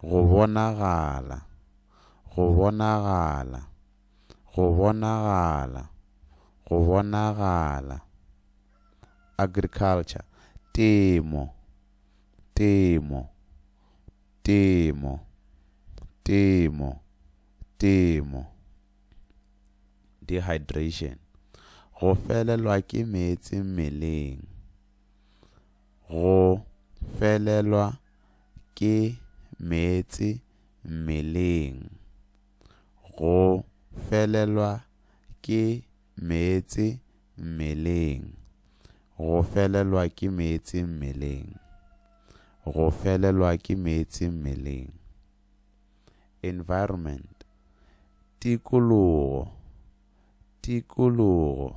Go bonagala. Go bonagala. Go bonagala. Go bonagala. Agriculture. Temo. Temo. Temo. Temo. Temo. Dehydration. Go felelwa ke meetse mmeleng. Go felelwa ke meetse mmeleng. Go felelwa ke meetse mmeleng. Go felelwa ke meetse mmeleng. Go felelwa ke meetse mmeleng. Environment. Tikologo. Tikologo.